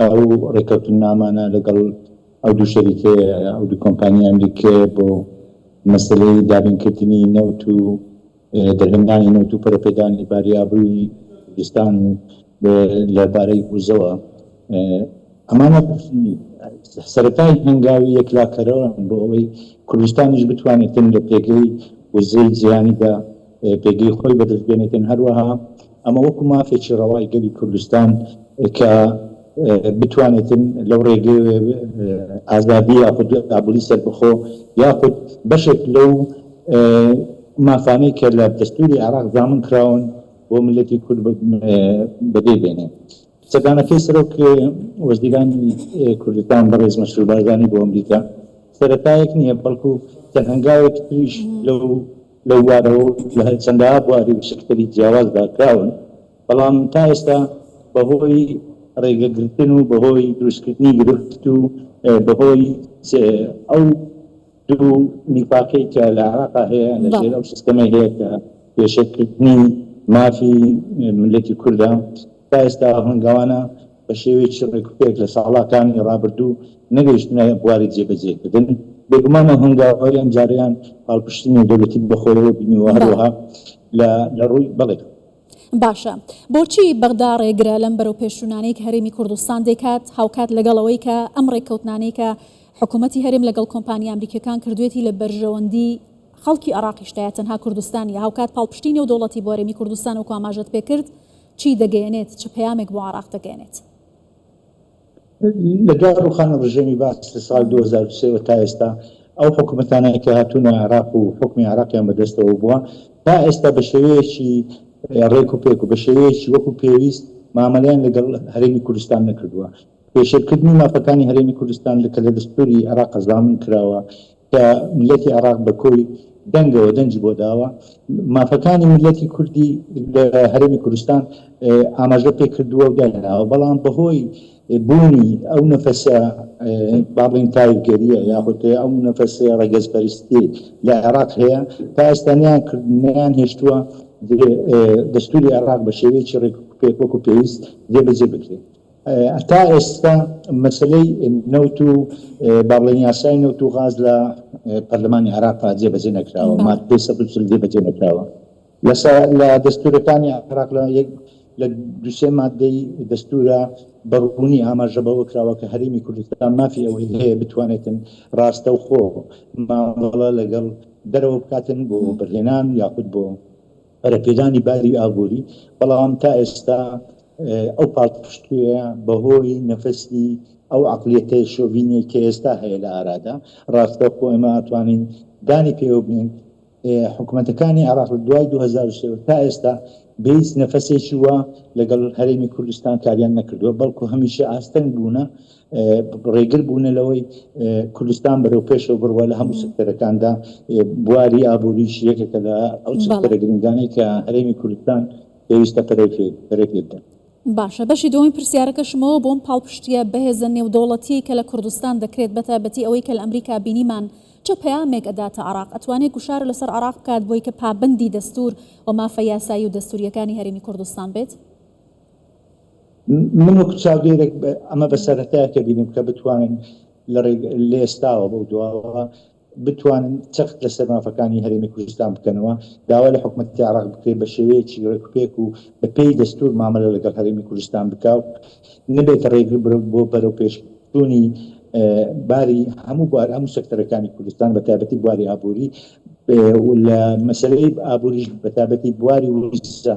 ئەو ڕێککەوتننامانە لەگەڵ ئەو دوو شەریکەیە، ئەو دوو کۆمپانیای ئەمریکییە بۆ مەسەلەی دابینکردنی نەوت و دەرهێنانی نەوت و پەرەپێدانی باری ئابووری کوردستان و لە بارەی وزەوە ئەمانە سەرەتای هەنگاوی یەکلاکەرەوەن بۆ ئەوەی کوردستانیش بتوانێتن لە پێگەی وزەی جیهانیدا پێگەی خۆی بەدەست بێنێتن هەروەها ئەمە وەکو مافێکی ڕەوای گەلی کوردستان کە بتوانێتن لەو ڕێگەی ئازادی یاخود ئابلی سەربخۆ یاخود بەشێک لەو مافانەی کە لە دەستوری عراق زامن کراون بۆ ملەتی کورد بەدەی بێنێ سەدانەکەی سەرۆک وەزیرانی کوردستان بەڕێز مەسرور بارزانانی بۆ ئەمریکا سەتایەک نییە بەڵکو تەنهنگاوێک تریش لەو لەو بوارەوە و لە چەندەها بواری و سکتەری جیاوازدا کراون، بەڵام تا ئێستا بەهۆی رێگەگرتن و بەهۆی دروستکردنی گرفت و بەهۆی ئەو دوو نیفاقەی کە لە عێراقا هەیە لە ژێر ئەو سیستەمەی هەیە کە پێشێلکردنی مافی میللەتی کوردە تا ئێستا هەنگاوانە بە شێوەیەکی ڕێکوپێک لە ساڵاکانی ڕابردوو نەگەیشتنە بواری جێبەجێکردن، بێگومان ئەو هەنگاوەی ئەمجارەیان پاڵپشتی نێودەولەتی بە خۆیەوە بینیوە، هەروەها لە لە ڕووی بەڵێ. باشە بۆچی بەغدا ڕێگرە لەم بەرەوپێشچوونانەی کە هەرێمی کوردستان دەیکات، هاوکات لەگەڵ ئەوەی کە ئەم ڕێککەوتنانەی کە حکوومەتی هەرێم لەگەڵ کۆمپانیا ئەمریکییەکان کردوویەتی لە بەرژەوەندی خەڵکی عێڕاقیشدایە تەنها کوردستان نییە، هاوکات پاڵپشتی نێودەوڵەتی بۆ هەرێمی کوردستان وەکو ئاماژەت پێکرد، چی دەگەیەنێت، چ پەیامێک بۆ عێراق دەگەیەنێت؟ لە دوای ڕووخانی ڕژێمی بەعس لە ساڵی دوو هەزار و سێ وە تا ئێستا، ئەو حکومەتانەی کە هاتوونە عێراق و حوکمی عێراقیان بەدەستەوە بووە، تا ئێستا بە شێوەیەکی ڕێکوپێک و بە شێوەیەکی وەکو پێویست مامەلەیان لەگەڵ هەرێمی کوردستان نەکردووە. پێشێلکردنی مافەکانی هەرێمی کوردستان کە لە دەستووری عێراق زامن کراوە، کە میللەتی عێراق بە کۆی دەنگەوە دەنگی بۆ داوە مافەکانی میللەتی کوردی لە هەرێمی کوردستان ئاماژە پێ کردووە و داناوە بەڵام بەهۆی بوونی ئەو نەفەسە باڵین تایفگەریە یاخود ئەو نەفەسێ ڕەگەزپەرستی لە عێراق هەیە تا ئێستانیان کردنیان هێشتووە دەستوری عێراق بە شێوەیەکی ڕێک پێک وەکو پێویست جێبەجێ بکرێت تا ئێستا مەسەلەی نەوت و با بڵێین یاسای نەوت و غاز لە پەرلەمانی عێراقا جێبەجێ نەکراوە مادەی سەد و چل جێبەجێ نەکراوە لەسا لە دەستورەکانی عێراق لە یەک لە دوسێ مادەی دەستورە بەڕبوونی ئاماژە بەوە کراوە کە هەرێمی کوردستان مافی ئەوەی هەیە بتوانێتن ڕاستەوخۆ مامەڵە لەگەڵ دەرەوە بکاتن بۆ بەرهێنان یاخود بۆ پەرەپێدانی باری ئابووری، بەڵام تا ئێستا ئەو پاڵپشتوویە بەهۆی نەفەسی ئەو عەقڵیەتە شۆڤینیەی کە ئێستا هەیە لە ئارادا، ڕاستەوخۆ ئێمە ئەتوانین دانی پێوەبنێین حکومەتەکانی عێراق لە دوای دوو هەزار و سێ تا ئێستا بە هیچ نەفەسێکی وا لەگەڵ هەرێمی کوردستان کاریان نەکردووە، بەڵکو هەمیشە ئاستەنگ بوونە ڕێگر بوونە لەوەی کوردستان بەرەو پێشەوە بڕوا لە هەموو سکتەرەکاندا بواری ئابووریش یەکێکە لە ئەو سکتەرە گرنگانەی کە هەرێمی کوردستان پێویستە پەرەی پێبدەن باشە بەشی دووەمی پرسیارەکەشمەوە بۆم پاڵپشتیە بەهێزە نێودەوڵەتیەی کە لە کوردستان دەکرێت بەتایبەتی ئەوەی کە لە ئەمریکا بینیمان چ پەیامێک ئەداتە عراق ئەتوانێت گوشار لەسەر عراق بکات بۆی کە پابەندی دەستور و مافە یاسایی و دەستوریەکانی هەرێمی کوردستان بێت؟ من وەکو چاودێرێک ئەمە بە سەرەتایەکە بینم کە بتوانن لە ڕێگ لە ئێستاوە بەو دواوە بتوانن چەخت لەسەر مافەکانی هەرێمی کوردستان بکەنەوە داوا لە حکومەتی عراق بکرێت بە شێوەیەکی ڕێکوپێک و بە پێی دەستور مامەلە لەگەڵ هەرێمی کوردستان بکا و نەبێتە ڕێگر بۆ بەرەو پێش چوونی باری هەموو بوار هەموو سەکتەرەکانی کوردستان بە تایبەتی بواری ئابووری لە مەسلەی ئابووریش بە تایبەتی بواری وزە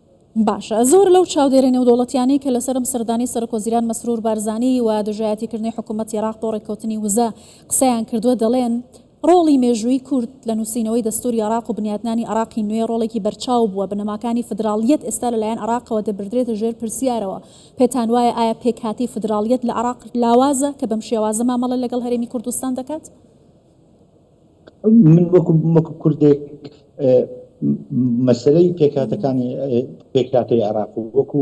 باشە زۆر لەو چاودێرە نێودەوڵەتیانەی کە لەسەرم سەردانی سەرک وەزیران مەسرور بارزانی و دژایەتیکردنی حکوومەت یراق بۆ ڕێککەوتنی وزە قسەیان کردووە دەڵێن ڕۆڵی مێژووی کورد لە نووسینەوەی دەستوری عراق و بنیاتنانی عراقی نوێ ڕۆڵێکی بەرچاو بووە بنەماکانی فدراڵیەت ئێستا لەلایەن عراقەوە دەبردرێتە ژێر پرسیارەوە پێتان وایە ئایا پێکهاتەی فدراڵیەت لە عراق لاوازە کە بەم شێوازە مامەڵە لەگەڵ هەرێمی کوردستان دەکات؟ من وەکو وەکو کوردێک مەسلەی پێکاتەکانی پێکاتی عراق و وەکو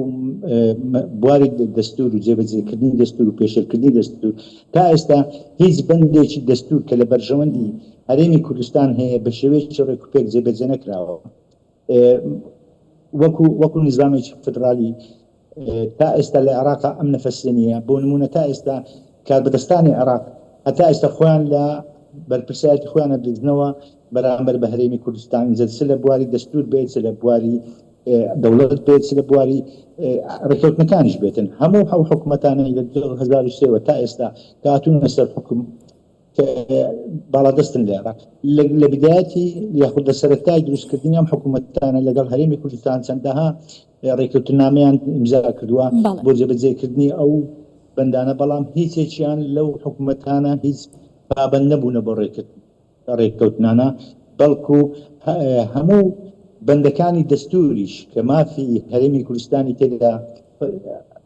بواری دەستور و جێبەجێکردنی دەستور و پێشێلکردنی دەستور تا ئێستا هیچ بەندێکی دەستور کە لە بەرژەوەندی هەرێمی کوردستان هەیە بە شێوەیەکی ڕێک و پێک جێبەجێ نەکراوە وەکو وەکو نظامێکی فدرالی تا ئێستا لە عێراقا ئەم نەفەسیە نییە، بۆ نموونە تا ئێستا کاربەدەستانی عێراق هەتا ئێستا خۆیان لە بەرپرسایەتی خۆیان ئەدزنەوە بەرامبەر بە هەرێمی کوردستان، جا چ لە بواری دەستوور بێت، چ لە بواری دەوڵەت بێت، چ لە بواری ڕێککەوتنەکانیش بێتن، هەموو ئەو حکومەتانەی لە دوو هەزار و سێ وە تا ئێستا کە هاتوونە سەر حوکم، باڵادەستن لە عێراق لە بدایەتی یاخود لە سەرەتای دروستکردنی ئەم حکوومەتانە لەگەڵ هەرێمی کوردستان چەندەها ڕێککەوتنامەیان ئیمزا کردووە بۆ جێبەجێکردنی ئەو بەندانە بەڵام هیچێکیان لەو حکوومەتانە هیچ پابند نەبوونە بۆ ڕێکرد ڕێککەوتنانە بەڵکو هەموو بەندەکانی دەستوریش کە مافی هەرێمی کوردستانی تێدا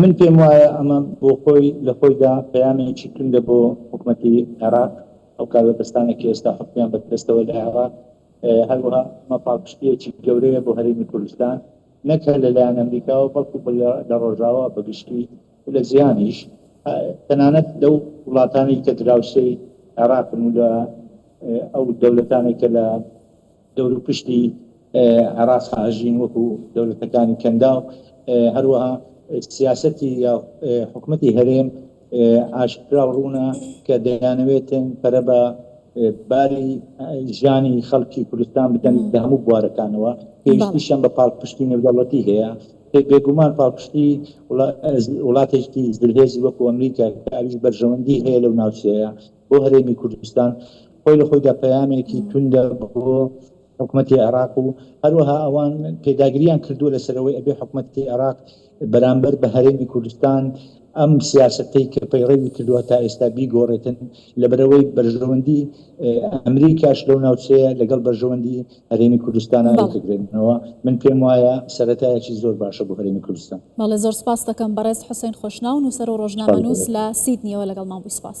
من پێم وایە ئەمە بۆ خۆی لە خۆیدا پەیامێکی توندە بۆ حکومەتی عێراق، ئەو کاربەدەستانە کە ئێستا حکومیان بەردەستەوە لە عێراق، هەروەها ئەمە پاڵپشتییەکی گەورەیە بۆ هەرێمی کوردستان، نەک هەر لە لایەن ئەمریکاوە، بەڵکو لە ڕۆژاوا بە گشتی و لە جیهانیش، تەنانەت لەو وڵاتانەی کە دراوسێی عێراقن و لە ئەو دەولەتانەی کە لە. دەوروپشتی عێراق ئاژین وەکو دەولەتەکانی کەنداو هەروەها سیاسەتی یا حکومەتی هەرێم ئاشکرا و ڕوونە کە دەیانەوێتن پەرە بە باری ژیانی خەڵکی کوردستان بدەن لە هەموو بوارەکانەوە پێویستیشان بە پاڵپشتی نێودەوڵەتی هەیە بێگومان پاڵپشتی وڵاتێکی زلهێزی وەکو ئەمریکا ئەویش بەرژەوەندی هەیە لەو ناوچەیە بۆ هەرێمی کوردستان خۆی لە خۆیدا پەیامێکی توندە بۆ حکوومەتتی عێراق و هەروەها ئەوان پێداگریان کردووە لەسەرەوەی ئەبێ حکوومەتتی عێراق بەرامبەر بە هەرێمی کوردستان ئەم سیاستەی کە پەیڕەوی کردووە تا ئێستا بیگۆڕێتن لە بەرەوەی بەرژەوەندی ئەمریکاش لەو ناوچەیە لەگەڵ بەرژەوەندی هەرێمی کوردستان ئاوی دەگرێنەوە من پێم وایە سەرەتایەکی زۆر باشە بۆ هەرێمی کوردستان. بەڵێ زۆر سپاست دەکەم بەڕێز حوسەین خۆشناو نووسەر و ڕۆژنامەنووس لە سیدنیەوە لەگەڵمان بووی سپاس.